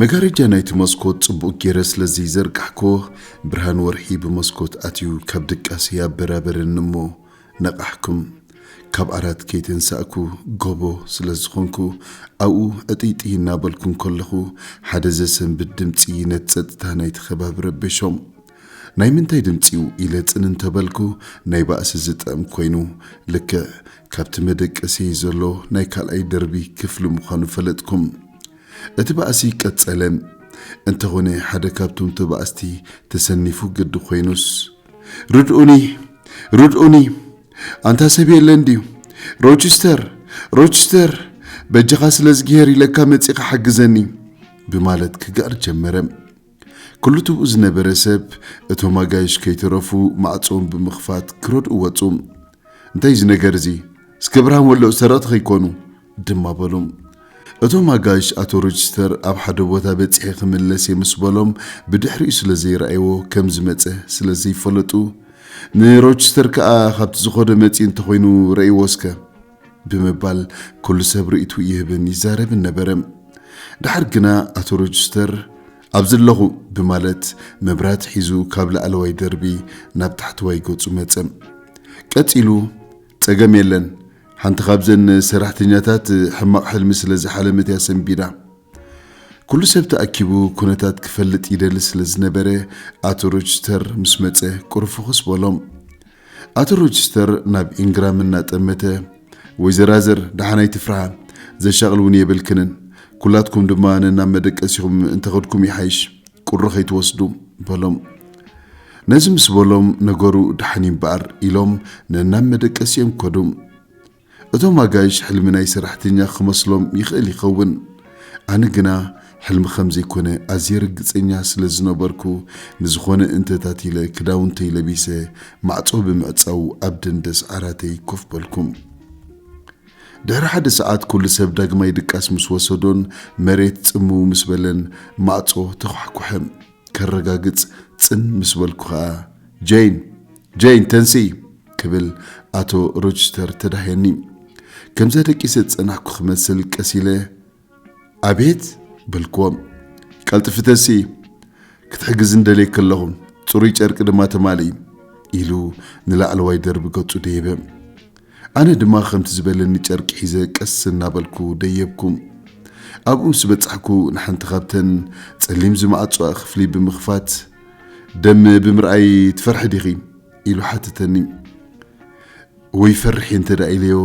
መጋረጃ ናይቲ መስኮት ጽቡቕ ገይረ ስለ ዘይዘርጋሕክዎ፣ ብርሃን ወርሒ ብመስኮት ኣትዩ ካብ ድቃሰይ ኣበራበረኒ እሞ ነቓሕኩም። ካብ ዓራት ከይተንሳእኩ ጎቦ ስለ ዝኾንኩ፣ ኣብኡ ዕጥይጥይ እናበልኩ እንከለኹ፣ ሓደ ዘሰንብድ ድምጺ ነቲ ጸጥታ ናይቲ ከባቢ ረበሾም። ናይ ምንታይ ድምጺ'ዩ ኢለ ጽን እንተ በልኩ፣ ናይ ባእሲ ዝጥዕም ኮይኑ፣ ልክዕ ካብቲ መደቀሲየይ ዘሎ ናይ ካልኣይ ደርቢ ክፍሊ ምዃኑ ፈለጥኩ። እቲ ባእሲ ቀጸለ። እንተኾነ ሓደ ካብቶም ተባእስቲ ተሰኒፉ ግዲ ኮይኑስ። ርድኡኒ! ርድኡኒ! ኣንታ ሰብ የለን ድዩ? ሮችስተር! ሮችስተር! በጃኻ ስለዝግሄር ኢለካ መጺኻ ሓግዘኒ! ብማለት ክግዕር ጀመረ። ክልትኡ ዝነበረ ሰብ እቶም ኣጋይሽ ከይተረፉ ማዕጾኦም ብምኽፋት ክረድኡ ወጹ። እንታይ እዩ እዚ ነገር እዚ እስከ ብርሃን ወልዕ ሰረቕቲ ከይኮኑ ድማ በሉ። እቶም ኣጋይሽ ኣቶ ሮጅስተር ኣብ ሓደ ቦታ በጺሐ ክምለስ እየ ምስ በሎም ብድሕሪኡ ስለ ዘይረኣይዎ ከም ዝመጸ ስለ ዘይፈለጡ ንሮጅስተር ከኣ ካብቲ ዝኸዶ መጺኡ እንተኾይኑ ረእይዎ እስከ ብምባል ኩሉ ሰብ ርእይትኡ ይህብን ይዛረብን ነበረ። ደሓር ግና ኣቶ ሮጅስተር ኣብዚ ኣለኹ ብማለት መብራህቲ ሒዙ ካብ ላዕለዋይ ደርቢ ናብ ታሕተዋይ ገጹ መጸ። ቀጺሉ ጸገም የለን፣ ሓንቲ ካብዘን ሰራሕተኛታት ሕማቕ ሕልሚ ስለ ዝሓለመት እያ ሰንቢዳ። ኩሉ ሰብ ተኣኪቡ ኩነታት ክፈልጥ ይደሊ ስለ ዝነበረ ኣቶ ሮጅስተር ምስ መጸ ቁሩብ ፍኹስ በሎም። ኣቶ ሮችስተር ናብ ኢንግራም እናጠመተ፣ ወይዘራዝር ደሓን ኣይትፍርሃ፣ ዘሻቕል እውን የብልክንን፣ ኩላትኩም ድማ ነናብ መደቀሲኹም እንተኸድኩም ይሓይሽ፣ ቁሪ ከይትወስዱ፣ በሎም። ነዚ ምስ በሎም፣ ነገሩ ደሓን እዩ እምበኣር፣ ኢሎም ነናብ መደቀሲኦም ከዱ። እቶም ኣጋይሽ ሕልሚ ናይ ሰራሕተኛ ክመስሎም ይኽእል ይኸውን፣ ኣነ ግና ሕልሚ ከም ዘይኮነ ኣዝየ ርግጸኛ ስለ ዝነበርኩ፣ ንዝኾነ እንተታት ኢለ ክዳውንተይ ለቢሰ ማዕጾ ብምዕጻው ኣብ ደንደስ ዓራተይ ኮፍ በልኩ። ድሕሪ ሓደ ሰዓት ኩሉ ሰብ ዳግማይ ድቃስ ምስ ወሰዶን መሬት ጽምው ምስ በለን ማዕጾ ተዃሕኩሐ። ከረጋግጽ ጽን ምስ በልኩ ኸኣ፣ ጀይን! ጀይን! ተንስኢ! ክብል ኣቶ ሮችስተር ተዳህየኒ። ከምዛ ደቂሰ ዝጸናሕኩ ክመስል ቀስ ኢለ፣ ኣቤት! በልክዎ። ቀልጥፊ ተንስኢ! ክትሕግዝኒ ደልየኪ ኣለኹ፣ ጽሩይ ጨርቂ ድማ ተማልኢ! ኢሉ ንላዕለዋይ ደርቢ ገጹ ደየበ። ኣነ ድማ ከምቲ ዝበለኒ ጨርቂ ሒዘ ቀስ እናበልኩ ደየብኩ። ኣብኡ ምስ በጻሕኩ ንሓንቲ ካብተን ጸሊም ዝመዓጹኣ ክፍሊ ብምኽፋት፣ ደም ብምርኣይ ትፈርሒ ዲኺ? ኢሉ ሓተተኒ። እወ ይፈርሕ እየ እንተድኣ ኢለዮ፣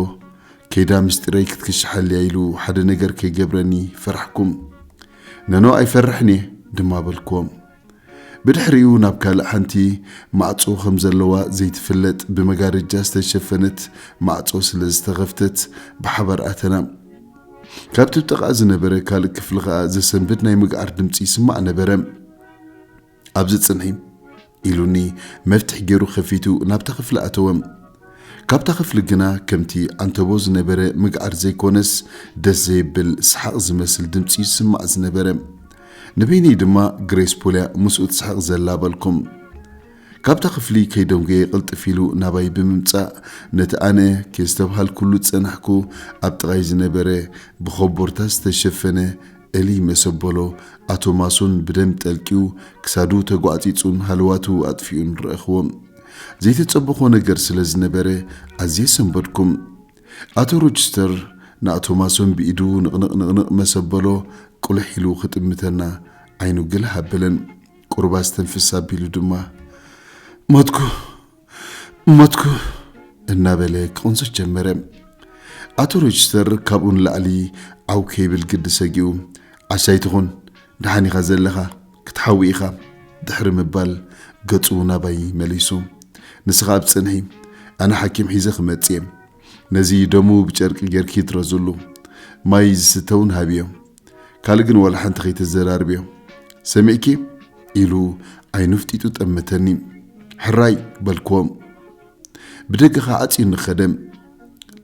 ከይዳ ምስጢረይ ክትክሽሓልያ ኢሉ ሓደ ነገር ከይገብረኒ ፈራሕኩ። ኖኖ ኣይፈርሕን እየ ድማ በልክዎ። ብድሕሪኡ ናብ ካልእ ሓንቲ ማዕጾ ከም ዘለዋ ዘይትፍለጥ ብመጋረጃ ዝተሸፈነት ማዕጾ ስለ ዝተኸፍተት ብሓባር ኣተና። ካብቲ ብጥቓ ዝነበረ ካልእ ክፍሊ ከኣ ዘሰንብድ ናይ ምግዓር ድምጺ ይስማዕ ነበረ። ኣብዚ ጽንሒ። ኢሉኒ መፍትሕ ገይሩ ከፊቱ ናብታ ክፍሊ ኣተወ። ካብታ ክፍሊ ግና ከምቲ ዓንተቦ ዝነበረ ምግዓር ዘይኮነስ ደስ ዘይብል ሰሓቕ ዝመስል ድምጺ ይስማዕ ዝነበረ። ንበይነይ ድማ ግሬስ ፖልያ ምስኡ ትስሕቕ ዘላ በልኩም። ካብታ ክፍሊ ከይደንጎየ ቅልጥፍ ኢሉ ናባይ ብምምጻእ ነቲ ኣነ ኬስተብሃልኩሉ ዝጸናሕኩ ኣብ ጥቓይ ዝነበረ ብኮቦርታ ዝተሸፈነ እልይ መሰበሎ ኣቶ ማሱን ብደም ጠልቂዩ ክሳዱ ተጓዕጺጹን ሃለዋቱ ኣጥፊኡን ረእኽዎ። ዘይተጸበኾ ነገር ስለ ዝነበረ ኣዝየ ሰንበድኩም። ኣቶ ሮችስተር ንኣቶማሶን ብኢዱ ንቕንቕ ንቕንቕ መስ ኣበሎ፣ ቁልሕ ኢሉ ክጥምተና ዓይኑ ግልህ ኣበለን። ቁሩብ ኣስተንፍስ ኣቢሉ ድማ፣ ሞትኩ! ሞትኩ! እናበለ ክቕንጽት ጀመረ። ኣቶ ሮችስተር ካብኡ ንላዕሊ ዓው ከይብል ግዲ ሰጊኡ፣ ዓሻ ኣይትኹን! ደሓን ኢኻ ዘለኻ! ክትሓዊ ኢኻ ድሕሪ ምባል ገጹ ናባይ መሊሱ፣ ንስኻ ኣብ ጽንሒ፣ ኣነ ሓኪም ሒዘ ክመጽእ'የ፣ ነዚ ደሙ ብጨርቂ ጌርኪ እትረዝሉ፣ ማይ ዝስተ'ውን ሃብዮ፣ ካልእ ግን ዋላ ሓንቲ ከይተዘራርብዮ፣ ሰሚዕኪ? ኢሉ ዓይኑ ኣፍጢጡ ጠመተኒ። ሕራይ! በልክዎ። ብደገ ኸኣ ኣጽዩኒ ኸደ።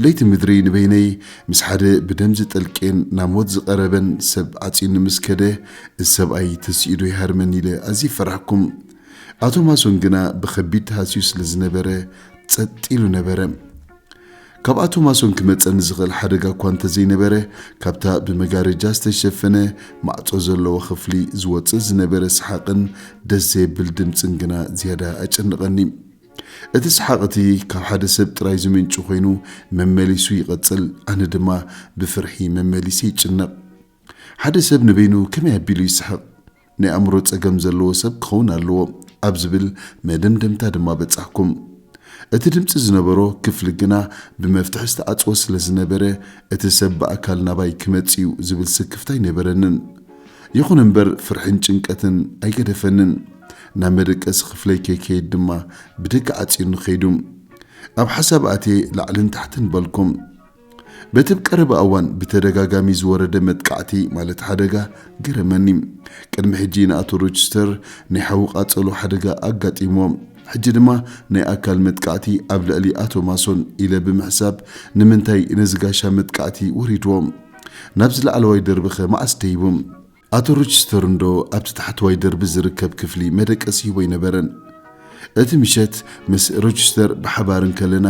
ለይቲ ምድሪ ንበይነይ ምስ ሓደ ብደም ዝጠልቄን ናብ ሞት ዝቐረበን ሰብ ኣጽዩኒ ምስ ከደ፣ እዚ ሰብኣይ ተሲኡዶ ይሃርመኒ ኢለ ኣዝየ ፈራህኩ። ኣቶ ማሶን ግና ብኸቢድ ተሃስዩ ስለ ዝነበረ ጸጥ ኢሉ ነበረ። ካብ ኣቶ ማሶን ክመጸኒ ዝኽእል ሓደጋ እኳ እንተ ዘይነበረ፣ ካብታ ብመጋረጃ ዝተሸፈነ ማዕጾ ዘለዎ ኽፍሊ ዝወጽእ ዝነበረ ሰሓቕን ደስ ዘየብል ድምጽን ግና ዝያዳ ኣጨነቐኒ። እቲ ሰሓቕ እቲ ካብ ሓደ ሰብ ጥራይ ዝምንጩ ኮይኑ መመሊሱ ይቐጽል፣ ኣነ ድማ ብፍርሒ መመሊሰ ይጭነቕ። ሓደ ሰብ ንበይኑ ከመይ ኣቢሉ ይስሕቕ? ናይ ኣእምሮ ጸገም ዘለዎ ሰብ ክኸውን ኣለዎ ኣብ ዝብል መደምደምታ ድማ በጻሕኩ። እቲ ድምጺ ዝነበሮ ክፍሊ ግና ብመፍትሒ ዝተዓጽወ ስለ ዝነበረ እቲ ሰብ ብኣካል ናባይ ክመጽእ'ዩ ዝብል ስክፍታ ኣይነበረንን። ይኹን እምበር ፍርሕን ጭንቀትን ኣይገደፈንን። ናብ መደቀሲ ክፍለይ ከይከይድ ድማ ብደገ ዓጽዩኒ ከይዱ። ኣብ ሓሳብ ኣትየ ላዕልን ታሕትን በልኩ። በቲ ብ ቀረባ እዋን ብተደጋጋሚ ዝወረደ መጥቃዕቲ ማለት ሓደጋ ገረመኒ። ቅድሚ ሕጂ ንኣቶ ሮችስተር ናይ ሓዊ ቃጸሎ ሓደጋ ኣጋጢምዎ። ሕጂ ድማ ናይ ኣካል መጥቃዕቲ ኣብ ልዕሊ ኣቶ ማሶን ኢለ ብምሕሳብ ንምንታይ ነዚ ጋሻ መጥቃዕቲ ወሪድዎ? ናብዚ ላዕለዋይ ደርቢኸ መዓስ ደይቡ? ኣቶ ሮችስተር እንዶ ኣብቲ ታሕተዋይ ደርቢ ዝርከብ ክፍሊ መደቀሲ ሂቦ ኣይነበረን። እቲ ምሸት ምስ ሮችስተር ብሓባር እንከለና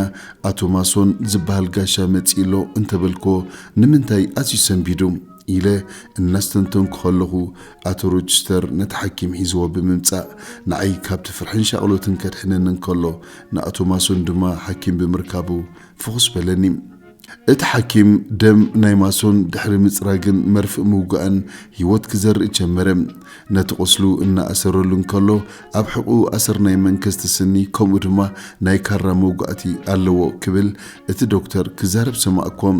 ኣቶ ማሶን ዝበሃል ጋሻ መጺኡ ኣሎ እንተ በልክዎ ንምንታይ ኣዝዩ ሰንቢዱ? ኢለ እናስተንተንኩ ከለኹ ኣቶ ሮችስተር ነቲ ሓኪም ሒዝዎ ብምምጻእ ንዓይ ካብቲ ፍርሕን ሻቕሎትን ከድሕነኒ እንከሎ ንኣቶ ማሶን ድማ ሓኪም ብምርካቡ ፍኹስ በለኒ። እቲ ሓኪም ደም ናይ ማሶን ድሕሪ ምጽራግን መርፍእ ምውጋእን ህይወት ክዘርእ ጀመረ። ነቲ ቁስሉ እናኣሰረሉ እንከሎ ኣብ ሕቕኡ ኣሰር ናይ መንከስቲ ስኒ ከምኡ ድማ ናይ ካራ መውጋእቲ ኣለዎ ክብል እቲ ዶክተር ክዛረብ ሰማዕኩዎ።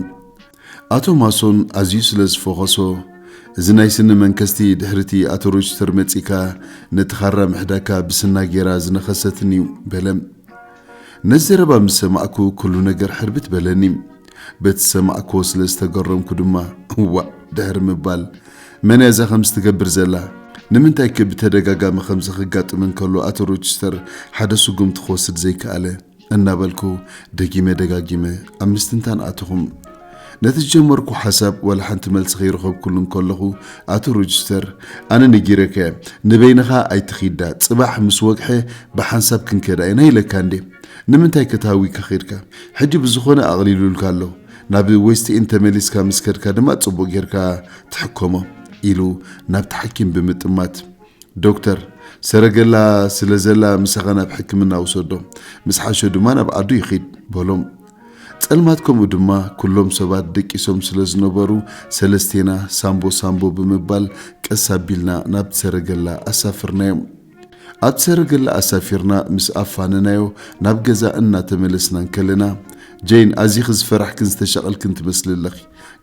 ኣቶ ማሶን ኣዝዩ ስለ ዝፈኾሶ፣ እዚ ናይ ስኒ መንከስቲ ድሕሪ'ቲ ኣቶ ሮችስተር መጺእካ ነቲ ኻራ ምሕዳካ ብስና ጌራ ዝነኸሰትኒ'ዩ፣ በለ። ነዚ ዘረባ ምስ ሰማዕኩ ኩሉ ነገር ሕርብት በለኒ። በቲ ዝሰማዕኩዎ ስለ ዝተገረምኩ ድማ፣ እዋእ! ድሕሪ ምባል፣ መን'ያ እዛ ከምዚ ትገብር ዘላ? ንምንታይ'ከ ብተደጋጋሚ ከምዚ ከጋጥም እንከሎ ኣቶ ሮችስተር ሓደ ስጉምቲ ክወስድ ዘይከኣለ? እናበልኩ ደጊመ ደጋጊመ ኣብ ምስትንታን ኣተኹም። ነቲ ዝጀመርኩ ሓሳብ ዋላ ሓንቲ መልሲ ከይረኸብኩሉ እንከለኹ ኣቶ ሮጅስተር ኣነ ነጊረካየ ንበይንኻ ኣይትኺዳ ጽባሕ ምስ ወግሐ ብሓንሳብ ክንከዳ ኢና ኢለካ እንዴ ንምንታይ ከተሃዊካ ኺድካ ሕጂ ብዝኾነ ኣቕሊሉልካ ኣሎ ናብ ዌስት ኢን ተመሊስካ ምስ ከድካ ድማ ጽቡቕ ጌርካ ትሕከሞ ኢሉ ናብቲ ሓኪም ብምጥማት ዶክተር፣ ሰረገላ ስለ ዘላ ምሳኻ ናብ ሕክምና ውሰዶ፣ ምስ ሓሾ ድማ ናብ ዓዱ ይኺድ፣ በሎም። ጸልማት ከምኡ ድማ ኩሎም ሰባት ደቂሶም ስለ ዝነበሩ ሰለስቴና ሳምቦ ሳምቦ ብምባል ቀስ ኣቢልና ናብቲ ሰረገላ ኣሳፍርናዮም። ኣብቲ ሰረገላ ኣሳፊርና ምስ ኣፋነናዮ ናብ ገዛ እናተመለስና እንከለና ጀይን ኣዚኺ ዝፈራሕክን ዝተሻቐልክን ትመስሊ ኣለኺ፣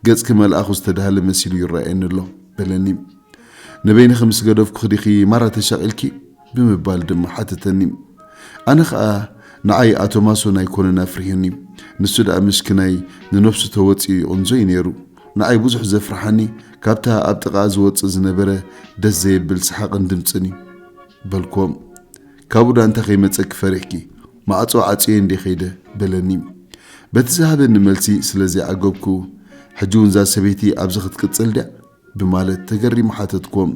ገጽኪ መልኣኹ ዝተዳህለ መሲሉ ይረኣየኒ ኣሎ፣ በለኒ። ንበይንኺ ምስ ገደፍኩኺ ዲኺ ማራ ተሻቒልኪ? ብምባል ድማ ሓተተኒ። ኣነ ኸኣ ንዓይ ኣቶ ማሶን ኣይኮነን ኣፍሪሑኒ፣ ንሱ ደኣ ምሽክናይ ንነብሱ ተወጺኡ ይቕንዞ እዩ ነይሩ። ንዓይ ብዙሕ ዘፍርሓኒ ካብታ ኣብ ጥቓኣ ዝወጽእ ዝነበረ ደስ ዘየብል ሰሓቕን ድምጽን እዩ። በልክዎም። ካብኡ ደኣ እንታይ ከይመጸኪ ፈሪሕኪ? ማዕጾ ዓጽየ እንድየ ከይደ። በለኒ። በቲ ዝሃበኒ መልሲ ስለ ዘይዓገብኩ፣ ሕጂ'ውን እዛ ሰበይቲ ኣብዚ ክትቅጽል ድያ? ብማለት ተገሪሙ ሓተትኩዎ።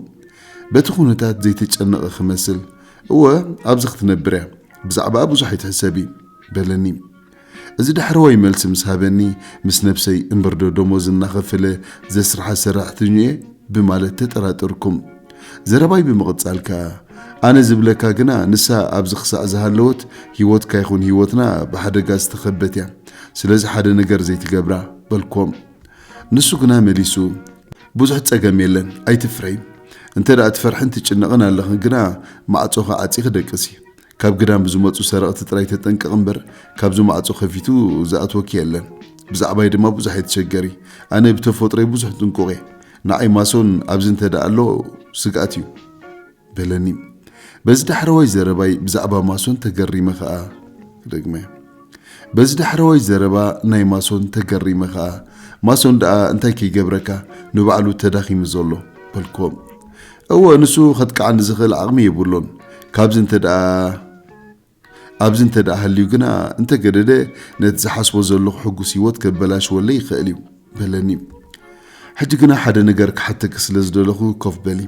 በቲ ኩነታት ዘይተጨነቐ ክመስል፣ እወ ኣብዚ ክትነብር እያ፣ ብዛዕባኣ ብዙሕ ኣይትሕሰቢ። በለኒ። እዚ ዳሕረዋይ መልሲ ምስ ሃበኒ ምስ ነብሰይ እምበርዶ ደሞዝ እናኸፈለ ዘስርሓ ሰራሕተኝኡ እየ? ብማለት ተጠራጠርኩ። ዘረባይ ብምቕጻል ከኣ፣ ኣነ ዝብለካ ግና ንሳ ኣብዚ ክሳዕ ዝሃለወት ህይወትካ ይኹን ህይወትና ብሓደጋ ዝተኸበት እያ፣ ስለዚ ሓደ ነገር ዘይትገብራ። በልኩዎ። ንሱ ግና መሊሱ ብዙሕ ጸገም የለን ኣይትፍረይ እንተ ትፈርሕን ትጭነቕን ኣለኽን ግና ማዕጾኺ ዓጺኺ ደቅሲ ካብ ግዳም ብዝመጹ ሰረቕቲ ጥራይ ተጠንቀቕ እምበር ካብዚ ማዕጾ ከፊቱ ዝኣትወኪ የለን ብዛዕባይ ድማ ብዙሕ ኣይትሸገሪ ኣነ ብተፈጥሮይ ብዙሕ ጥንቁቕ እየ ንዓይ ማሶን ኣብዚ እንተ ኣሎ ስግኣት እዩ በለኒ። በዚ ዳሕረዋይ ዘረባይ ብዛዕባ ማሶን ተገሪመ ከኣ ደግመ። በዚ ዳሕረዋይ ዘረባ ናይ ማሶን ተገሪመ ከኣ ማሶን ደኣ እንታይ ከይገብረካ ንባዕሉ ተዳኺሙ ዘሎ? በልክዎም። እወ ንሱ ከጥቅዓኒ ዝኽእል ዓቕሚ የብሉን። ካብዚ እንተደኣ። ኣብዚ እንተ ደኣ ሃልዩ ግና፣ እንተ ገደደ ነቲ ዝሓስቦ ዘለኹ ሕጉስ ህይወት ከበላሽወለይ ይኸእል እዩ። በለኒ። ሕጂ ግና ሓደ ነገር ክሓተኪ ስለ ዝደለኹ ኮፍ በሊ።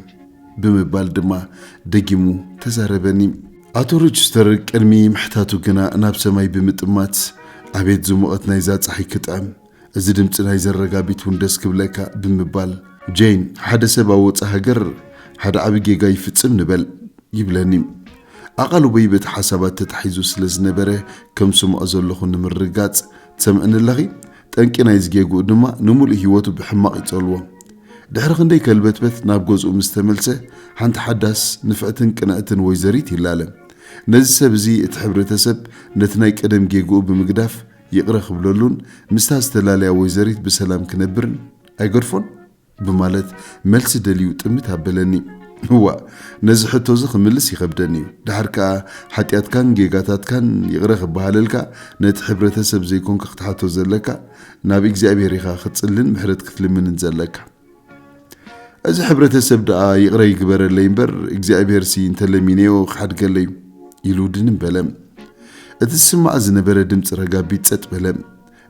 ብምባል ድማ ደጊሙ ተዛረበኒ። ኣቶ ሮችስተር ቅድሚ ምሕታቱ ግና ናብ ሰማይ ብምጥማት፣ ኣቤት ዝሙቐት ናይዛ ጸሓይ ክጥዕም! እዚ ድምጺ ናይ ዘረጋቢት ውን ደስ ክብለካ ብምባል። ጀይን ሓደ ሰብ ኣብ ወጻእ ሃገር ሓደ ዓቢ ጌጋ ይፍጽም ንበል ይብለኒ። ኣቓልቦይ በቲ ሓሳባት ተታሒዙ ስለ ዝነበረ ከም ዝሰምዖ ዘለኹ ንምርግጋጽ፣ ትሰምዕኒ ኣለኺ? ጠንቂ ናይዚ ጌግኡ ድማ ንምሉእ ህይወቱ ብሕማቕ ይጸልዎ። ድሕሪ ክንደይ ከልበትበት ናብ ገዝኡ ምስ ተመልሰ ሓንቲ ሓዳስ፣ ንፍዕትን ቅንዕትን ወይዘሪት ይላለ። ነዚ ሰብ እዚ እቲ ሕብረተሰብ ነቲ ናይ ቀደም ጌግኡ ብምግዳፍ ይቕረ ክብለሉን ምስታ ዝተላለያ ወይዘሪት ብሰላም ክነብርን ኣይገድፎን? ብማለት መልሲ ደልዩ ጥምት ኣበለኒ። እዋእ ነዚ ሕቶ'ዚ ክምልስ ይኸብደኒ'ዩ። ደሓር ከኣ ሓጢኣትካን ጌጋታትካን ይቕረ ክበሃለልካ ነቲ ሕብረተ-ሰብ ዘይኮንካ ክትሓቶ ዘለካ፣ ናብ እግዚኣብሔር ኢኻ ክትጽልን ምሕረት ክትልምንን ዘለካ። እዚ ሕብረተሰብ ደኣ ይቕረ ይግበረለይ እምበር እግዚኣብሄርሲ እንተለሚነዮ ክሓድገለይ ኢሉ ድንም በለ። እቲ ዝስማዕ ዝነበረ ድምፂ ረጋቢት ጸጥ በለ።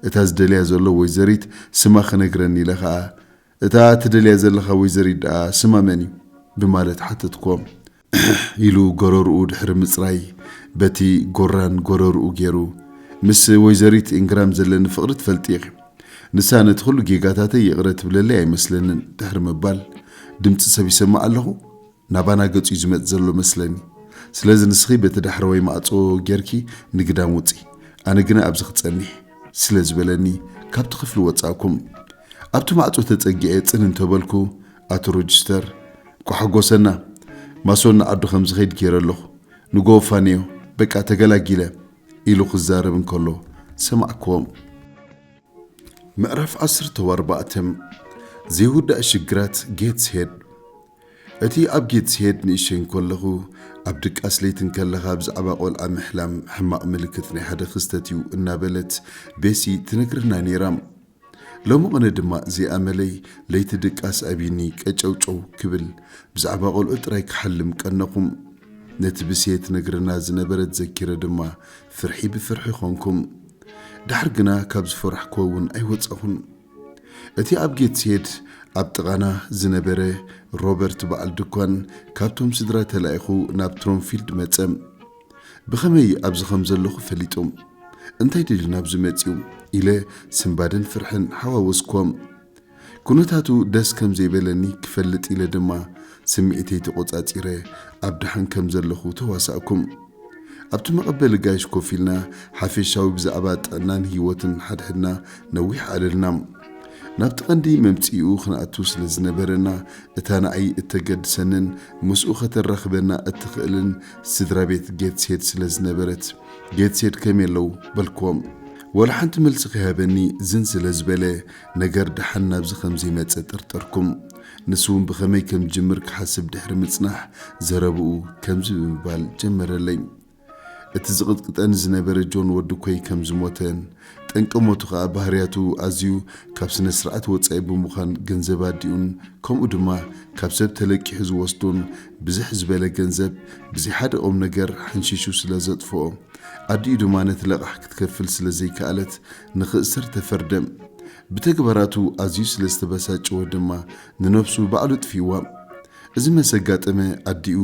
እታ ዝደልያ ዘሎ ወይዘሪት ስማ ክነግረኒ ኢለ ኸኣ እታ ትደልያ ዘለኻ ወይዘሪት ደኣ ስማ መን እዩ? ብማለት ሓተትኩዎ። እሕሕ ኢሉ ጎረርኡ ድሕሪ ምጽራይ በቲ ጎራን ጎረርኡ ጌሩ ምስ ወይዘሪት ኢንግራም ዘለኒ ፍቅሪ ትፈልጢ ኢኺ ንሳ ነቲ ኩሉ ጌጋታተይ ይቅረ ትብለለይ ኣይመስለንን ድሕሪ ምባል ድምጺ ሰብ ይሰምዕ ኣለኹ ናባና ገጹ'ዩ ዝመጽ ዘሎ መስለኒ ስለዚ ንስኺ በቲ ዳሕረዋይ ማዕጾ ጌርኪ ንግዳም ውጺ ኣነ ግና ኣብዚ ክጸኒሕ ስለ ዝበለኒ ካብቲ ክፍሊ ወጻእኩም ኣብቲ ማዕጾ ተጸጊዐ ጽን እንተ በልኩ፣ ኣቶ ሮጅስተር፣ ኳሕጎሰና፣ ማሶን ንዓዱ ከም ዝኸይድ ገይረ ኣለኹ፣ ንጎሆ ፋንዮ፣ በቃ ተገላጊለ፣ ኢሉ ክዛረብ እንከሎ ሰማዕክዎም። ምዕራፍ ዓሰርተው ኣርባዕተ፣ ዘይውዳእ ሽግራት ጌትስሄድ እቲ ኣብ ጌትስሄድ ንእሸተይ እንከለኹ፣ ኣብ ድቃስ ለይቲ እንከለኻ ብዛዕባ ቆልዓ ምሕላም ሕማቕ ምልክት ናይ ሓደ ክስተት እዩ እናበለት ቤሲ ትነግረና ነይራ። ሎሚ ቅነ ድማ ዘይ ኣመለይ ለይቲ ድቃስ ኣብይኒ ቀጨውጨው ክብል ብዛዕባ ቆልዑ ጥራይ ክሓልም ቀነኹም ነቲ ብሴ ትነግረና ዝነበረት ዘኪረ ድማ ፍርሒ ብፍርሒ ኮንኩም ዳሕር ግና ካብ ዝፈራሕክዎ እውን ኣይወጻኹን እቲ ኣብ ጌትስሄድ ኣብ ጥቓና ዝነበረ ሮበርት በዓል ድኳን ካብቶም ስድራ ተላኢኹ ናብ ትሮምፊልድ መጸ ብኸመይ ኣብዚ ኸም ዘለኹ ፈሊጦም እንታይ ደልዩ ናብዚ መጺኡ ኢለ ስንባደን ፍርሕን ሓዋወስክዎም። ኩነታቱ ደስ ከም ዘይበለኒ ክፈልጥ ኢለ ድማ ስምዒተይ ተቖጻጺረ ኣብ ደሓን ከም ዘለኹ ተዋሳእኩም። ኣብቲ መቐበሊ ጋይሽ ኮፍ ኢልና ሓፌሻዊ ብዛዕባ ጥዕናን ህይወትን ሓድሕድና ነዊሕ ኣዕለልና። ናብቲ ቀንዲ መምጽኢኡ ክንኣቱ ስለ ዝነበረና እታ ንኣይ እተገድሰንን ምስኡ ከተራኽበና እትኽእልን ስድራ ቤት ጌትስሄድ ስለ ዝነበረት ጌትስሄድ ከመይ ኣለው በልክዎም ወላ ሓንቲ መልሲ ከይሃበኒ ዝን ስለ ዝበለ ነገር ደሓን ናብዚ ከም ዘይመፀ ጠርጠርኩም ንሱ እውን ብኸመይ ከም ዝጅምር ክሓስብ ድሕሪ ምፅናሕ ዘረብኡ ከምዚ ብምባል ጀመረለይ እቲ ዝቕጥቅጠኒ ዝነበረ ጆን ወዲ ኮይ ከም ዝሞተን ጠንቂ ሞቱ ከኣ ባህርያቱ ኣዝዩ ካብ ስነስርዓት ወጻኢ ብምዃን ገንዘብ ኣዲኡን ከምኡ ድማ ካብ ሰብ ተለቂሑ ዝወስዶን ብዝሕ ዝበለ ገንዘብ ብዘይ ሓደ ቁምነገር ሓንሺሹ ስለ ዘጥፍኦ ኣዲኡ ድማ ነቲ ለቓሕ ክትከፍል ስለ ዘይከኣለት ንኽእሰር ተፈርደ። ብተግባራቱ ኣዝዩ ስለ ዝተበሳጨወ ድማ ንነብሱ ባዕሉ ኣጥፊእዋ። እዚ መስ ኣጋጠመ ኣዲኡ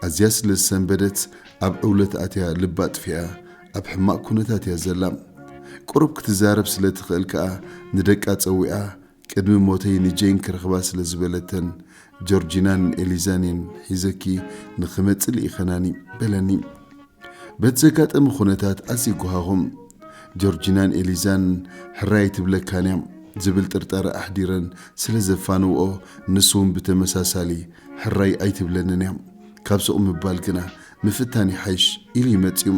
ኣዝያ ስለ ዝሰንበደት ኣብ ዕውለት ኣትያ ልባ ኣጥፊኣ ኣብ ሕማቕ ኩነታት እያ ዘላ። ቁሩብ ክትዛረብ ስለ ትኽእል ከኣ ንደቃ ጸዊዓ ቅድሚ ሞተይ ንጄን ክረኽባ ስለ ዝበለተን ጆርጂናን ኤሊዛን እየን ሒዘኪ ንኽመጽእ ልኢኸናኒ በለኒ። በቲ ዘጋጠመ ኩነታት ኣዝየ ጎሃኹ። ጆርጂናን ኤሊዛን ሕራይ ኣይትብለካን እያ ዝብል ጥርጣረ ኣሕዲረን ስለ ዘፋንውኦ ንሱ እውን ብተመሳሳሊ ሕራይ ኣይትብለንን እያ ካብ ሱቕ ምባል ግና ምፍታን ይሓይሽ ኢሉ እዩ መጺኡ።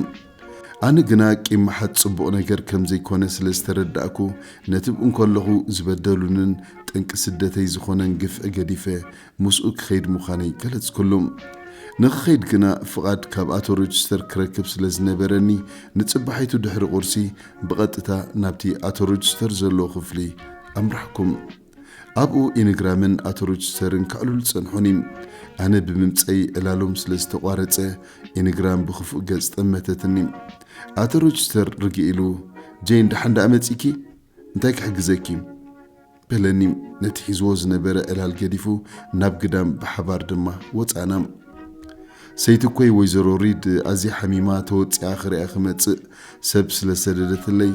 ኣነ ግና ቂም ምሓዝ ጽቡቕ ነገር ከም ዘይኮነ ስለ ዝተረዳእኩ ነቲ እንከለኹ ዝበደሉንን ጠንቂ ስደተይ ዝኾነን ግፍዒ ገዲፈ ምስኡ ክኸይድ ምዃነይ ገለጽኩሉ። ንኽኸይድ ግና ፍቓድ ካብ ኣቶ ሮጅስተር ክረክብ ስለ ዝነበረኒ ንጽባሒቱ ድሕሪ ቁርሲ ብቐጥታ ናብቲ ኣቶ ሮጅስተር ዘለዎ ክፍሊ ኣምራሕኩ። ኣብኡ ኢንግራምን ኣቶሮችስተርን ከዕልሉ ጸንሑኒ። ኣነ ብምምጸይ ዕላሎም ስለ ዝተቋረጸ ኢንግራም ብክፉእ ገጽ ጠመተትኒ። ኣቶሮችስተር ርግእ ኢሉ ጄን ደሓን ደኣ መጺእኪ? እንታይ ክሕግዘኪ? በለኒ። ነቲ ሒዝዎ ዝነበረ ዕላል ገዲፉ ናብ ግዳም ብሓባር ድማ ወጻእና። ሰይትኮይ ወይዘሮ ሪድ ኣዝያ ሓሚማ ተወጺኣ ክሪኣ ክመጽእ ሰብ ስለ ዝሰደደትለይ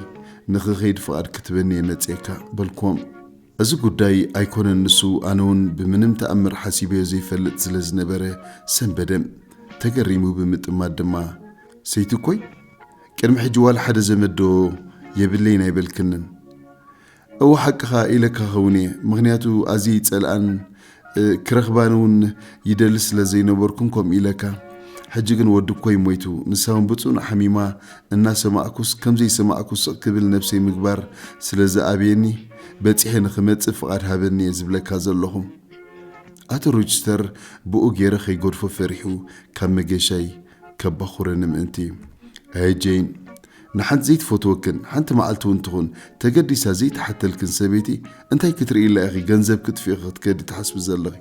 ንኽኸይድ ፍቓድ ክትበኒ እየ መጺኤካ በልክዎም። እዚ ጉዳይ ኣይኮነን ንሱ ኣነውን ብምንም ተኣምር ሓሲበዮ ዘይፈልጥ ስለ ዝነበረ ሰንበደ። ተገሪሙ ብምጥማት ድማ ሰይትኮይ ቅድሚ ሕጂ ዋላ ሓደ ዘመድ ዶ የብለይን ኣይበልክንን? እወ ሓቅኻ ኢለካ ክኸውን እየ ምኽንያቱ ኣዝየ ይጸልኣን ክረኽባን እውን ይደሊ ስለ ዘይነበርኩን ከምኡ ኢለካ ሕጂ ግን ወዲ እኮይ ሞይቱ ንሳ እውን ብጽኑዕ ሓሚማ እናሰማዕኩስ ከምዘይሰማዕኩ ስቕ ክብል ነብሰይ ምግባር ስለ ዝኣብየኒ በጺሐ ንኽመጽእ ፍቓድ ሃበኒ እየ ዝብለካ ዘለኹ ኣቶ ሮችስተር ብኡ ገይረ ከይገድፎ ፈሪሑ ካብ መገሻይ ከበኹረኒ ምእንቲ። ኣየ ጀይን! ንሓንቲ ዘይትፈትወክን፣ ሓንቲ መዓልቲ እውን ትኹን ተገዲሳ ዘይትሓተልክን ሰበይቲ እንታይ ክትርእይላ ኢኺ ገንዘብ ክትፍኢ ክትከዲ ትሓስቢ ዘለኺ?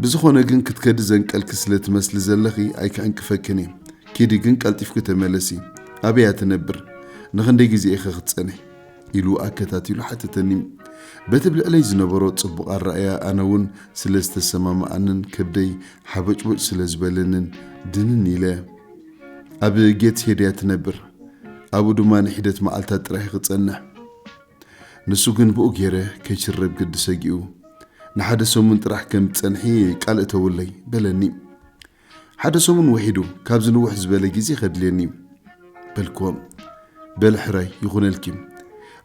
ብዝኾነ ግን ክትከዲ ዘንቀልኪ ስለ ትመስሊ ዘለኺ ኣይክዕንቅፈክን እየ። ኪዲ ግን ቀልጢፍኪ ተመለሲ። ኣበይ እያ ትነብር? ንኽንደይ ግዜ ኢኺ ክትጸንሒ? ኢሉ ኣከታቲሉ ሓተተኒ። በቲ ብልዕለይ ዝነበሮ ጽቡቕ ኣረኣእያ ኣነ እውን ስለ ዝተሰማምኣንን ከብደይ ሓበጭቦጭ ስለ ዝበለንን ድንን ኢለ። ኣብ ጌት ሄድ እያ ትነብር፣ ኣብኡ ድማ ንሒደት መዓልታት ጥራሕ እዩ ክጸንሕ። ንሱ ግን ብኡ ገይረ ከይሽረብ ግዲ ሰጊኡ ንሓደ ሰሙን ጥራሕ ከም ዝጸንሒ ቃል እተውለይ በለኒ። ሓደ ሰሙን ውሒዱ ካብዚ ንውሕ ዝበለ ግዜ ከድልየኒ እዩ በልክዎም። በል ሕራይ ይኹነልኪ፣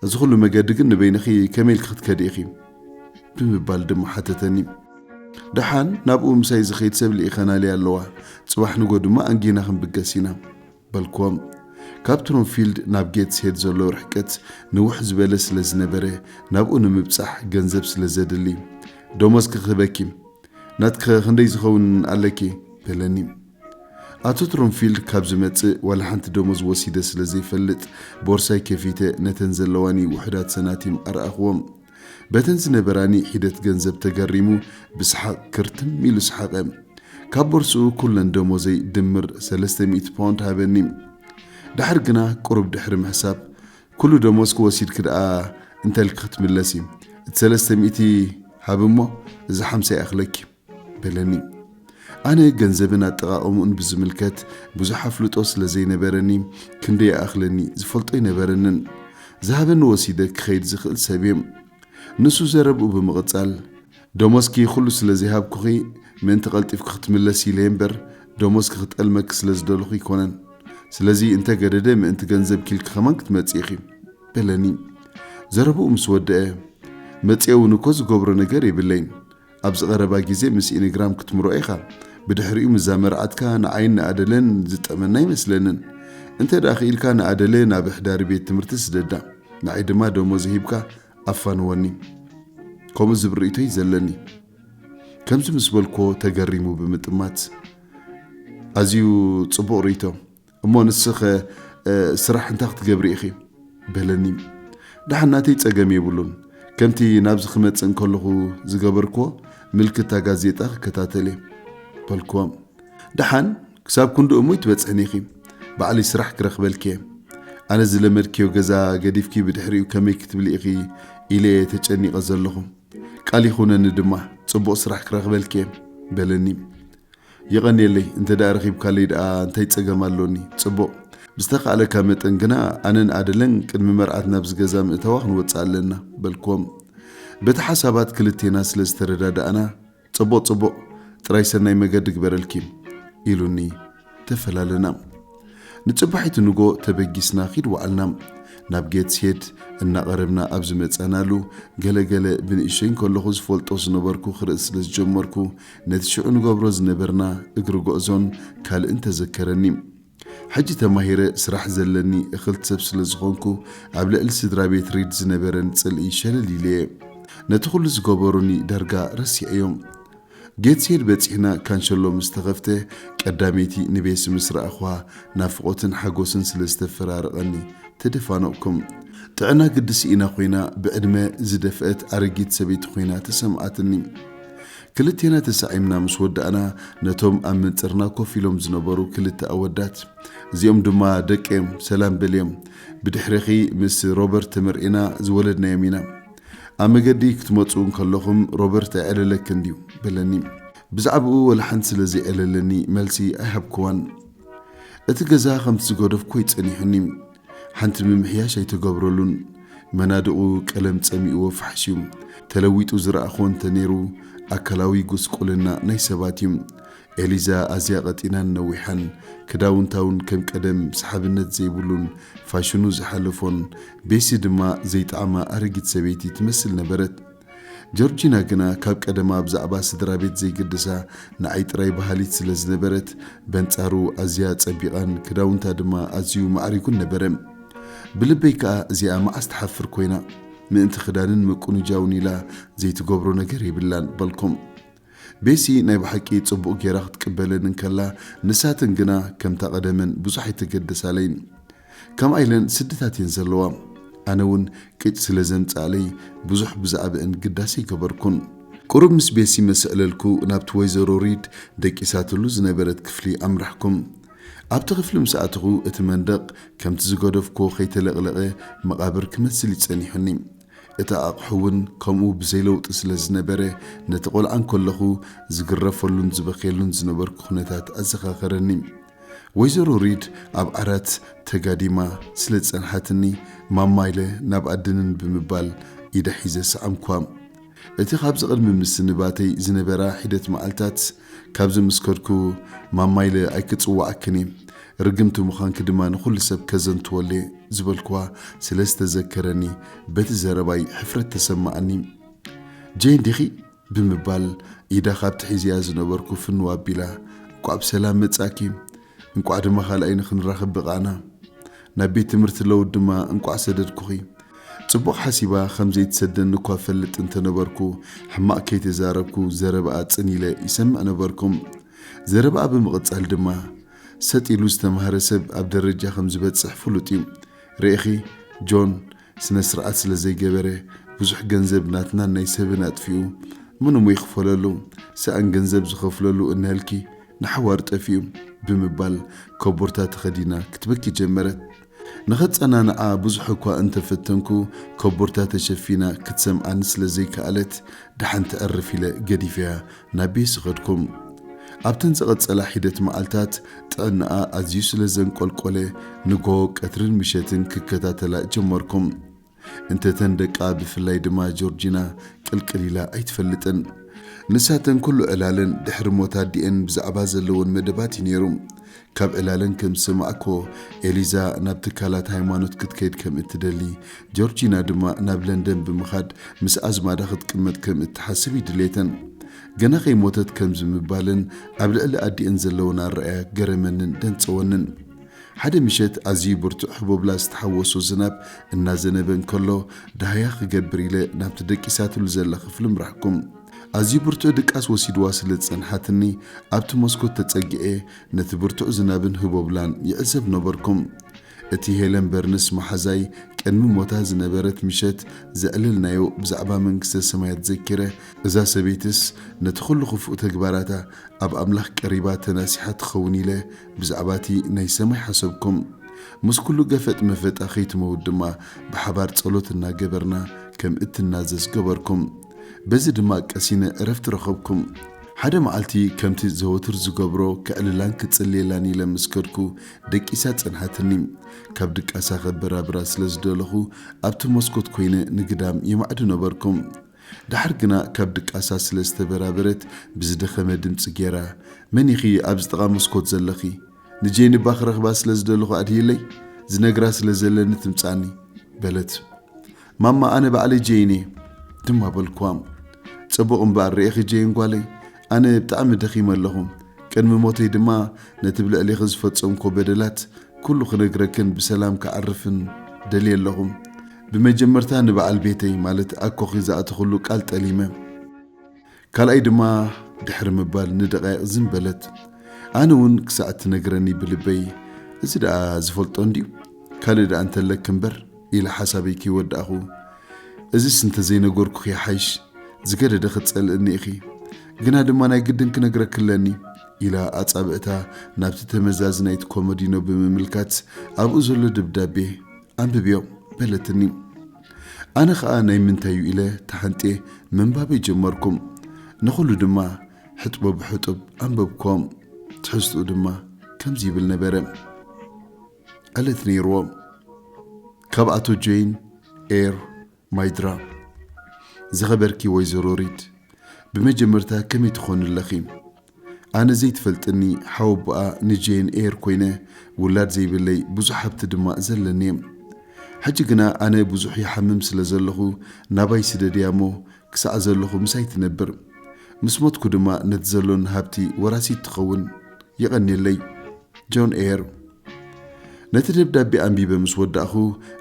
እዚ ኩሉ መገዲ ግን ንበይንኺ ከመይ ኢልኪ ክትከዲ ኢኺ? ብምባል ድማ ሓተተኒ። ደሓን ናብኡ ምሳይ ዝኸይድ ሰብ ልኢኸናለይ ኣለዋ፣ ጽባሕ ንጎ ድማ ኣንጊህና ክንብገስ ኢና። በልክዎም። ካብ ትሮምፊልድ ናብ ጌትስሄድ ዘሎ ርሕቀት ንውሕ ዝበለ ስለ ዝነበረ፣ ናብኡ ንምብጻሕ ገንዘብ ስለ ዘድሊ፣ ደሞዝኪ ክህበኪ፣ ናትኪኸ ክንደይ ዝኸውን ኣለኪ? በለኒ። ኣቶ ትሮምፊልድ ካብ ዝመጽእ ዋላ ሓንቲ ደሞዝ ወሲደ ስለ ዘይፈልጥ፣ ቦርሳይ ከፊተ ነተን ዘለዋኒ ውሑዳት ሰናቲም ኣርኣኽዎም። በተን ዝነበራ ንኢሒደት ገንዘብ ተገሪሙ ብስሓቕ ክርትም ኢሉ ሰሓቐ። ካብ ቦርስኡ ኩለን ደሞዘይ ድምር ሰለስተ ሚእቲ ፓውንድ ሃበኒ። ደሓር ግና ቁሩብ ድሕሪ ምሕሳብ፣ ኩሉ ደሞዝኪ ወሲድኪ ደኣ እንተልኪ ክትምለሲ፣ እቲ ሰለስተ ሚእቲ ሃቢ እሞ እዛ ሓምሳ ይኣኽለኪ። በለኒ። ኣነ ገንዘብን ኣጠቓቕምኡን ብዝምልከት ብዙሕ ኣፍልጦ ስለ ዘይነበረኒ ክንደይ ይኣኽለኒ ዝፈልጦ ኣይነበረንን። ዝሃበኒ ወሲደ ክኸይድ ዝኽእል ሰብ'የ። ንሱ ዘረብኡ ብምቕጻል፣ ደሞዝኪ ኹሉ ስለ ዘይሃብኩኺ ምእንቲ ቀልጢፍኪ ክትምለሲ ኢለ'የ እምበር ደሞዝኪ ክጠልመኪ ስለ ዝደለኹ ኣይኮነን። ስለዚ እንተ ገደደ ምእንቲ ገንዘብኪ ኢልኪ ከማን ክትመጺ ኢኺ። በለኒ። ዘረብኡ ምስ ወደኣ፣ መጺኤ'ውን እኮ ዝገብሮ ነገር የብለይን። ኣብዚ ቀረባ ግዜ ምስ ኢንግራም ክትምርዖ ኢኻ ብድሕሪኡ ምዛ መርዓትካ ንዓይን ንኣደለን ዝጠመና ኣይመስለንን እንተ ደኣ ክኢልካ ንኣደለ ናብ ኣሕዳሪ ቤት ትምህርቲ ስደዳ ንዓይ ድማ ደሞዝ ሂብካ ኣፋንወኒ ከምኡ ዝብል ርእይቶይ ዘለኒ ከምዚ ምስ በልኮ ተገሪሙ ብምጥማት ኣዝዩ ጽቡቕ ርእይቶ እሞ ንስኸ ስራሕ እንታይ ክትገብሪ ኢኺ? በለኒ። ደሓን ናተይ ጸገም የብሉን። ከምቲ ናብዚ ክመጽእ እንከለኹ ዝገበርክዎ ምልክት እታ ጋዜጣ ክከታተል እየ። በልክዎም። ደሓን ክሳብ ክንዲ እሙይ ትበጽሕኒ ኢኺ። ባዕለይ ስራሕ ክረኽበልኪ እየ። ኣነ ዝለመድክዮ ገዛ ገዲፍኪ ብድሕሪኡ ከመይ ክትብሊ ኢኺ ኢለ እየ ተጨኒቐ ዘለኹ። ቃል ይኹነኒ ድማ ጽቡቕ ስራሕ ክረኽበልኪ እየ። በለኒ። የቐንየለይ እንተ ደኣ ረኺብካለይ ደኣ እንታይ ጸገም ኣሎኒ? ጽቡቕ። ብዝተኻእለካ መጠን ግና ኣነን ኣደለን ቅድሚ መርዓት ናብዚ ገዛ ምእታዋ ክንወጽእ ኣለና፣ በልክዎም። በቲ ሓሳባት ክልቴና ስለ ዝተረዳዳእና፣ ጽቡቕ ጽቡቕ፣ ጥራይ ሰናይ መገዲ እግበረልኪ፣ ኢሉኒ ተፈላለና። ንጽባሒቱ ንጎ ተበጊስና ኺድ ወዓልና። ናብ ጌትስሄድ እናቐረብና ኣብ ዝመጻናሉ፣ ገለ ገለ ብንእሽቶይ እንከለኹ ዝፈልጦ ዝነበርኩ ክርኢ ስለ ዝጀመርኩ፣ ነቲ ሽዑ ንገብሮ ዝነበርና እግሪ ጎዕዞን ካልእን ተዘከረኒ። ሕጂ ተማሂረ ስራሕ ዘለኒ እኽልቲ ሰብ ስለ ዝኾንኩ ኣብ ልዕሊ ስድራ ቤት ሪድ ዝነበረኒ ጽልኢ ሸለል ኢለየ። ነቲ ኩሉ ዝገበሩኒ ዳርጋ ረሲዐዮ። ጌትስሄድ በጺሕና ካንሸሎ ምስ ተኸፍተ ቀዳመይቲ ንቤሲ ምስ ረኣኹዋ ናፍቖትን ሓጎስን ስለ ዝተፈራረቐኒ ተደፋነቕኩ። ጥዕና ግዲ ስኢና ኮይና ብዕድመ ዝደፍአት ኣረጊት ሰበይቲ ኮይና ተሰምዓትኒ። ክልቴና ተሳዒምና ምስ ወዳእና፣ ነቶም ኣብ መንጽርና ኮፍ ኢሎም ዝነበሩ ክልተ ኣወዳት፣ እዚኦም ድማ ደቀይ'ዮም፣ ሰላም በልዮም። ብድሕሬኺ ምስ ሮበርት ተመርዒና ዝወለድናዮም ኢና። ኣብ መገዲ ክትመጹ እንከለኹም ሮበርት ኣይዕለለክን ድዩ? በለኒ። ብዛዕባኡ ወላ ሓንቲ ስለ ዘይዕለለኒ መልሲ ኣይሃብኩዋን። እቲ ገዛ ከምቲ ዝገደፍኩዎ'ዩ ጸኒሑኒ። ሓንቲ ምምሕያሽ ኣይተገብረሉን መናድቑ ቀለም ጸሚእዎ ፋሕሽ ዩ ተለዊጡ ዝረኣኽዎ እንተ ኔሩ ኣካላዊ ጉስቁልና ናይ ሰባት ዩ ኤሊዛ ኣዝያ ቀጢናን ነዊሓን ክዳውንታ ውን ከም ቀደም ሰሓብነት ዘይብሉን ፋሽኑ ዝሓለፎን ቤሲ ድማ ዘይጠዓማ ኣረጊት ሰበይቲ ትመስል ነበረት ጆርጂና ግና ካብ ቀደማ ብዛዕባ ስድራቤት ዘይግድሳ ንዓይ ጥራይ በሃሊት ስለ ዝነበረት፣ በንጻሩ ኣዝያ ጸቢቓን ክዳውንታ ድማ ኣዝዩ ማዕሪጉን ነበረ። ብልበይ ከኣ እዚኣ መዓስ ትሓፍር ኮይና? ምእንቲ ክዳንን ምቁንጃውን ኢላ ዘይትገብሮ ነገር የብላን በልኩ። ቤሲ ናይ ብሓቂ ጽቡቕ ጌራ ክትቅበለን እንከላ ንሳተን ግና ከምታ ቀደመን ብዙሕ ኣይተገደሳለይን ከምኣ ኢለን ስድታት እየን ዘለዋ ኣነ ውን ቅጭ ስለ ዘምጽኣለይ ብዙሕ ብዛዕብእን ግዳስ ኣይገበርኩን ቁሩብ ምስ ቤሲ መስዕለልኩ ናብቲ ወይዘሮ ሪድ ደቂሳትሉ ዝነበረት ክፍሊ ኣምራሕኩ ኣብቲ ክፍሊ ምስ ኣተኹ እቲ መንደቕ ከምቲ ዝገደፍኩዎ ከይተለቕለቐ መቓብር ክመስል እዩ ጸኒሑኒ። እቲ ኣቕሑ እውን ከምኡ ብዘይለውጢ ስለ ዝነበረ፣ ነቲ ቈልዓ እንከለኹ ዝግረፈሉን ዝበኽየሉን ዝነበርኩ ዅነታት ኣዘኻኸረኒ። ወይዘሮ ሪድ ኣብ ዓራት ተጋዲማ ስለ ዝጸንሓትኒ፣ ማማ ኢለ ናብ ኣድንን ብምባል ኢዳ ሒዘ ሰዓምኩዋ። እቲ ኻብዚ ቕድሚ ምስንባተይ ዝነበራ ሒደት መዓልታት፣ ካብዚ ምስ ከድኩ ማማይለ ኣይክጽውዓክን እየ፣ ርግምቲ ምዃንኪ ድማ ንኹሉ ሰብ ከዘንትወሉ እየ ዝበልክዋ ስለ ዝተዘከረኒ በቲ ዘረባይ ሕፍረት ተሰማዓኒ። ጀይን ዲኺ? ብምባል ኢዳ ካብቲ ሒዘያ ዝነበርኩ ፍንው ኣቢላ እንቋዕ ብሰላም መጻእኪ፣ እንቋዕ ድማ ካልኣይ ንክንራኽብ በቓዕና። ናብ ቤት ትምህርቲ ለውድ ድማ እንቋዕ ሰደድኩኺ። ጽቡቕ ሓሲባ ከም ዘይትሰደኒ እኳ እፈልጥ እንተ ነበርኩ፣ ሕማቕ ከይተዛረብኩ ዘረባኣ ጽን ኢለ ይሰምዕ ነበርኩም። ዘረባኣ ብምቕጻል ድማ፣ ሰጥ ኢሉ ዝተማህረ ሰብ ኣብ ደረጃ ከም ዝበጽሕ ፍሉጥ እዩ። ርኢኺ፣ ጆን፣ ስነስርኣት ስለ ዘይገበረ ብዙሕ ገንዘብ ናትናን ናይ ሰብን ኣጥፊኡ ምንሙ ይክፈለሉ ሰኣን ገንዘብ ዝከፍለሉ እንሀልኪ ንሓዋሩ ጠፊኡ ብምባል ኮቦርታ ተከዲና ክትበኪ ጀመረት ንከጸናንዓ ብዙሕ እኳ እንተ ፈተንኩ ኮቦርታ ተሸፊና ክትሰምዓኒ ስለ ዘይከኣለት ደሓን ተዕርፍ ኢለ ገዲፈያ ናበይ ስኸድኩም? ኣብተን ዝቐጸላ ሒደት መዓልታት ጥዕናኣ ኣዝዩ ስለ ዘንቆልቆለ ንግሆ፣ ቀትርን ምሸትን ክከታተላ ጀመርኩም። እንተ እተን ደቃ ብፍላይ ድማ ጆርጂና ቅልቅል ኢላ ኣይትፈልጥን። ንሳተን ኩሉ ዕላለን ድሕሪ ሞት ኣዲኤን ብዛዕባ ዘለወን መደባት እዩ ነይሩ። ካብ ዕላለን ከም ዝሰማዕክዎ፣ ኤሊዛ ናብ ትካላት ሃይማኖት ክትከይድ ከም እትደሊ፣ ጆርጂና ድማ ናብ ለንደን ብምኻድ ምስ ኣዝማዳ ክትቅመጥ ከም እትሓስብ እዩ ድሌተን። ገና ከይሞተት ከም ዝምባለን ኣብ ልዕሊ ኣዲኤን ዘለወን ኣረኣእያ ገረመንን ደንጸወንን። ሓደ ምሸት ኣዝዩ ብርቱዕ ህቦብላ ዝተሓወሶ ዝናብ እናዘነበ እንከሎ፣ ደሃያ ክገብር ኢለ ናብቲ ደቂሳትሉ ዘላ ክፍሊ ምራሕኩም። ኣዝዩ ብርቱዕ ድቃስ ወሲድዋ ስለ ዝጸንሓትኒ፣ ኣብቲ መስኮት ተጸጊዐ ነቲ ብርቱዕ ዝናብን ህቦብላን ይዕዘብ ነበርኩ። እቲ ሄለን በርንስ መሓዛይ ቅድሚ ሞታ ዝነበረት ምሸት ዘዕለልናዮ ብዛዕባ መንግስተ ሰማያት ዘኪረ፣ እዛ ሰበይትስ ነቲ ዅሉ ኽፉእ ተግባራታ ኣብ ኣምላኽ ቀሪባ ተናሲሓ ትኸውን ኢለ ብዛዕባ እቲ ናይ ሰማይ ሓሰብኩ። ምስ ኵሉ ገፈጥ መፈጣ ኸይትመውት ድማ ብሓባር ጸሎት እናገበርና ከም እትናዘዝ ገበርኩ። በዚ ድማ ቀሲነ ዕረፍቲ ረኸብኩም። ሓደ መዓልቲ ከምቲ ዘወትር ዝገብሮ ከዕልላን ክጽልየላን ኢለ ምስ ከድኩ ደቂሳ ጸንሓትኒ። ካብ ድቃሳ ከበራብራ ስለ ዝደለኹ ኣብቲ መስኮት ኮይነ ንግዳም የማዕዱ ነበርኩ። ደሓር ግና ካብ ድቃሳ ስለ ዝተበራበረት ብዝደኸመ ድምጺ ጌራ መን ኢኺ ኣብዚ ጥቓ መስኮት ዘለኺ? ንጄኒ እባ ክረኽባ ስለ ዝደለኹ ኣድህይለይ? ዝነግራ ስለ ዘለኒ ትምጽኣኒ። በለት። ማማ ኣነ ባዕለይ ጀይን እየ ድማ በልክዋ። ጽቡቕ እምበኣር ርኤኺ ጀይን ጓለይ፣ ኣነ ብጣዕሚ ደኺመ ኣለኹ። ቅድሚ ሞተይ ድማ ነቲ ብ ልዕሌኺ ዝፈጸምክዎ በደላት ኩሉ ክነግረክን ብሰላም ክዓርፍን ደልየ ኣለኹ። ብመጀመርታ ንበዓል ቤተይ ማለት ኣኮኺ ዝኣተኽሉ ቃል ጠሊመ። ካልኣይ ድማ ድሕሪ ምባል ንደቓይቕ ዝም በለት። ኣነ እውን ክሳዕ እትነግረኒ ብልበይ እዚ ደኣ ዝፈልጦ እንድዩ ካልእ ደኣ እንተለኪ እምበር ኢለ ሓሳበይ ከይወዳእኹ እዚስ እንተዘይነገርኩኺ ይሓይሽ ዝገደደ ክትጸልእኒ ኢኺ ግና ድማ ናይ ግድን ክነግረኪ ኣለኒ ኢላ ኣጻብዕታ ናብቲ ተመዛዚ ናይቲ ኮመዲኖ ብምምልካት ኣብኡ ዘሎ ደብዳቤ ኣንብብዮ በለትኒ። ኣነ ኸኣ ናይ ምንታይ'ዩ ኢለ ተሓንጥየ ምንባበይ ጀመርኩም። ንኹሉ ድማ ሕጥቦ ብሕጡብ ኣንበብክዎም። ትሕዝትኡ ድማ ከምዚ ይብል ነበረ። ዕለት ነይርዎ። ካብ ኣቶ ጆይን ኤር ማይድራ። ዝኸበርኪ ወይዘሮ ሪድ፣ ብመጀመርታ ከመይ ትኾኒ ኣለኺ? ኣነ ዘይትፈልጥኒ ሓወቦኣ ንጄን ኤር ኮይነ ውላድ ዘይብለይ ብዙሕ ሃብቲ ድማ ዘለኒየ ሕጂ ግና ኣነ ብዙሕ ይሓምም ስለ ዘለኹ ናባይ ስደድያ እሞ ክሳዕ ዘለኹ ምሳይ ትነብር ምስ ሞትኩ ድማ ነቲ ዘሎኒ ሃብቲ ወራሲት ትኸውን የቐኔለይ ጆን ኤር ነቲ ደብዳቤ ኣንቢበ ምስ ወዳእኹ፣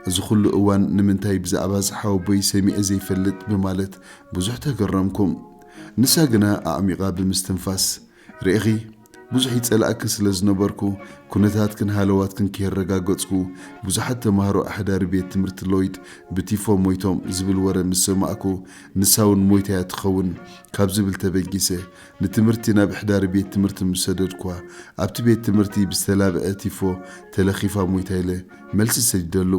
እዚ ኹሉ እዋን ንምንታይ ብዛዕባ እዚ ሓወቦይ ሰሚዐ ዘይፈልጥ ብማለት ብዙሕ ተገረምኩ። ንሳ ግና ኣዕሚቓ ብምስትንፋስ፣ ርኤኺ፣ ብዙሕ ይጸልኣኪ ስለ ዝነበርኩ፣ ኩነታትክን ሃለዋትክን ከየረጋገጽኩ፣ ብዙሓት ተማሃሮ ኣሕዳሪ ቤት ትምህርቲ ሎይድ ብቲፎ ሞይቶም ዝብል ወረ ምስ ሰማዕኩ፣ ንሳ'ውን ሞይታ'ያ ትኸውን ካብ ዝብል ተበጊሰ ንትምህርቲ ናብ ሕዳሪ ቤት ትምህርቲ ምስ ሰደድኩዋ፣ ኣብቲ ቤት ትምህርቲ ብዝተላብዐ ቲፎ ተለኺፋ ሞይታ ኢለ መልሲ ሰዲደሉ።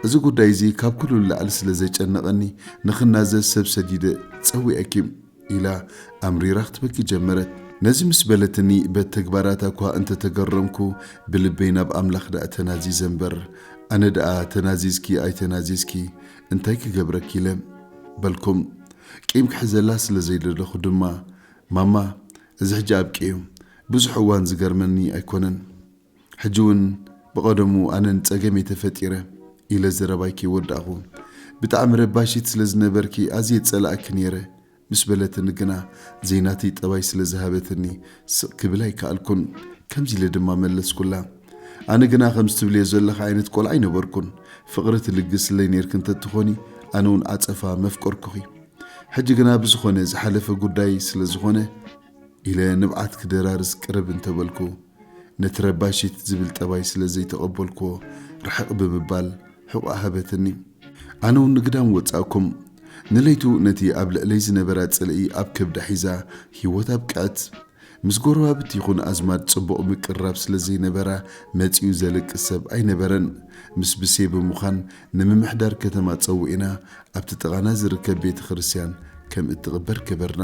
እዚ ጉዳይ እዚ ካብ ኩሉ ንላዕሊ ስለ ዘጨነቐኒ ንኽናዘዝ ሰብ ሰዲደ ጸዊዐኪ ኢላ ኣምሪራ ክትበኪ ጀመረት። ነዚ ምስ በለትኒ በቲ ተግባራታ እኳ እንተ ተገረምኩ ብልበይ ናብ ኣምላኽ ደኣ ተናዚዘ እምበር ኣነ ደኣ ተናዚዝኪ ኣይተናዚዝኪ እንታይ ክገብረኪ ኢለ በልኩም ቂም ክሕዘላ ስለ ዘይደለኹ ድማ ማማ እዚ ሕጂ ኣብቂኡ ብዙሕ እዋን ዝገርመኒ ኣይኮነን ሕጂ ውን ብቐደሙ ኣነ ንጸገም እየ ተፈጢረ ኢለ ዘረባይ ከይወዳእኹ ብጣዕሚ ረባሺት ስለ ዝነበርኪ ኣዝየ ዝጸላኣኪ ነይረ ምስ በለትኒ ግና ዘይናተይ ጠባይ ስለ ዝሃበትኒ ስቕ ክብል ኣይከኣልኩን። ከምዚ ኢለ ድማ መለስኩላ፣ ኣነ ግና ከምዚ ትብልዮ ዘለኺ ዓይነት ቈልዓ ኣይነበርኩን። ፍቕሪ ትልግስለይ ኔርኪ እንተ ትዀኒ ኣነ'ውን ዓጸፋ መፍቀርኩኺ። ሕጂ ግና ብዝዀነ ዝሓለፈ ጕዳይ ስለ ዝዀነ፣ ኢለ ንብዓት ክደራርስ ቅርብ እንተበልኩ፣ ነቲ ረባሺት ዝብል ጠባይ ስለ ዘይተቐበልኩዎ ርሕቕ ብምባል ሕቖኣ ሃበትኒ። ኣነውን ንግዳም ወጻእኩም። ንለይቱ ነቲ ኣብ ልዕለይ ዝነበራ ጽልኢ ኣብ ከብዳ ሒዛ ህይወት ኣብቅዐት። ምስ ጎረባብቲ ይኹን ኣዝማድ ጽቡቕ ምቅርራብ ስለ ዘይነበራ መጺኡ ዘለቅስ ሰብ ኣይነበረን። ምስ ብሴ ብምዃን ንምምሕዳር ከተማ ጸዊዕና ኣብቲ ጥቓና ዝርከብ ቤተ ክርስቲያን ከም እትቕበር ገበርና።